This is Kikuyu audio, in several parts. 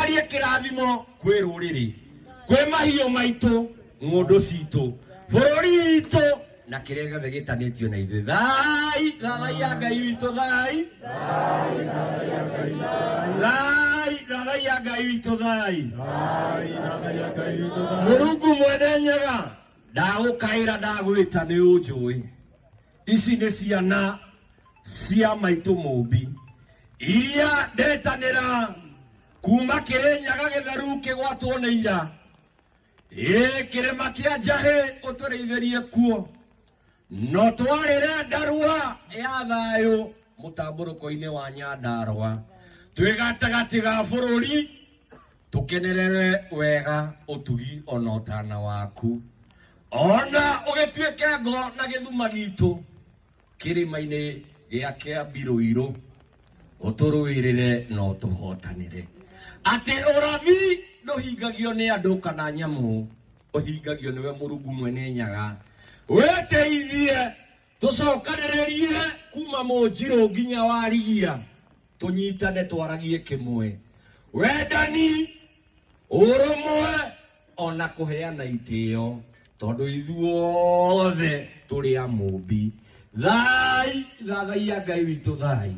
Arie kĩrathimo kwĩ rũrĩrĩ, kwĩ mahiũ maitũ, ng'ũndũ citũ, bũrũri witũ na kĩrĩa gĩothe gĩtanĩtio na ithuĩ. Thai, thai ya Ngai witũ, thai. Thai, thai ya Ngai witũ, thai. Mũrungu mwene nyaga, ndagũkaĩra ndagwĩta nĩ ũnjũĩ. ici nĩ ciana cia maitũ mũmbi iria ndetanĩra kuma kĩrĩ nyaga gĩtheru kĩgwatwo nĩ ira ĩ kĩrĩma kĩa njahĩ ũtũrĩithĩrie kuo no twarĩre ndarua ya thayũ mũtambũrũko-inĩ wa nyandarwa twĩ gatagatĩ ga bũrũri tũkenerere wega ũtugi ona ũtana waku ona ũgĩtuĩke ngo na gĩthuma gitũ kĩrĩma-inĩ gĩa kĩa mbirũirũ ũtũrũĩrĩre na ũtũhotanĩre atĩ ũrathi ndũhingagio nĩ andũ kana nyamũ ũhingagio nĩwe mũrungu mwene nyaga wĩteithie Tũcokanĩrĩrie kuma Mũnjirũ nginya Warigia, tũnyitane twaragie kĩmwe, wendani, ũrũmwe ona kũheana itĩo, tondũ ithuothe tũrĩ a Mũmbi. Thai, thathaiya Ngai witũ thai.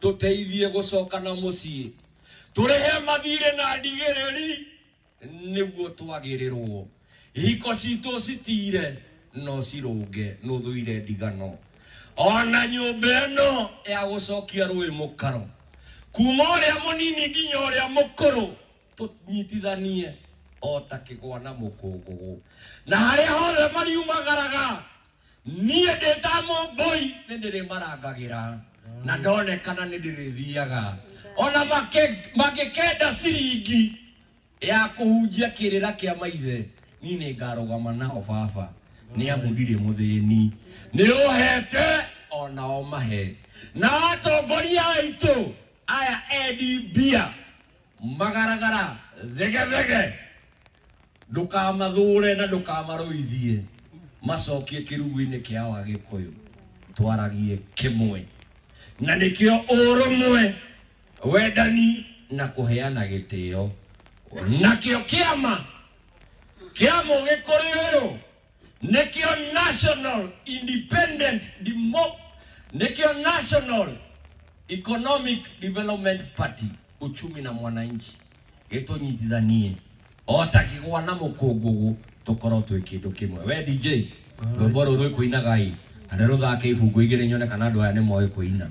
tũteithie gũcokana mũciĩ tũrĩhe mathirĩ na ndigĩrĩri nĩguo twagĩrĩrwo ihiko citũ citire no cirũnge nũthũire ndigano ona nyũmba ĩno ya gũcokia rũĩ mũkaro kuma ũrĩa mũnini nginya ũrĩa mũkũrũ tũnyitithanie o ta kĩgwa na mũkũngũgũ na harĩa hothe mariumagaraga niĩ ndĩ ta mũmbũi nĩ ndĩrĩmarangagĩra na ndonekana nĩ ndĩrĩthiaga ona make- mangĩkenda ciringi ya kũhunjia kĩrĩra kĩa maithe niĩ nĩ ngarũgama nao baba nĩ amu ndirĩ mũthĩni nĩ ũhete onao mahe na atongoria aitũ aya endi mbia magaragara thegethege ndũkamathure na ndũkamarũithie macokie kĩrugu-inĩ kĩao agĩkũyũ twaragie kĩmwe na nĩkĩo ũrũmwe wendani na kũheana gĩtĩo nakĩo kĩama kĩa mũgĩkũrĩ ũyũ nĩkĩo national independent Demo- nĩkĩo national economic development party uchumi na mwananchi gĩtũnyitithanie o ta kĩgwa na mũkũngũgũ tũkorwo twĩ kĩndũ kĩmwe we dj rwĩmbo rũrũ rwĩkũinagai na nĩ rũthake ibungu igĩrĩ nyone kana andũ aya nĩ moĩ kũina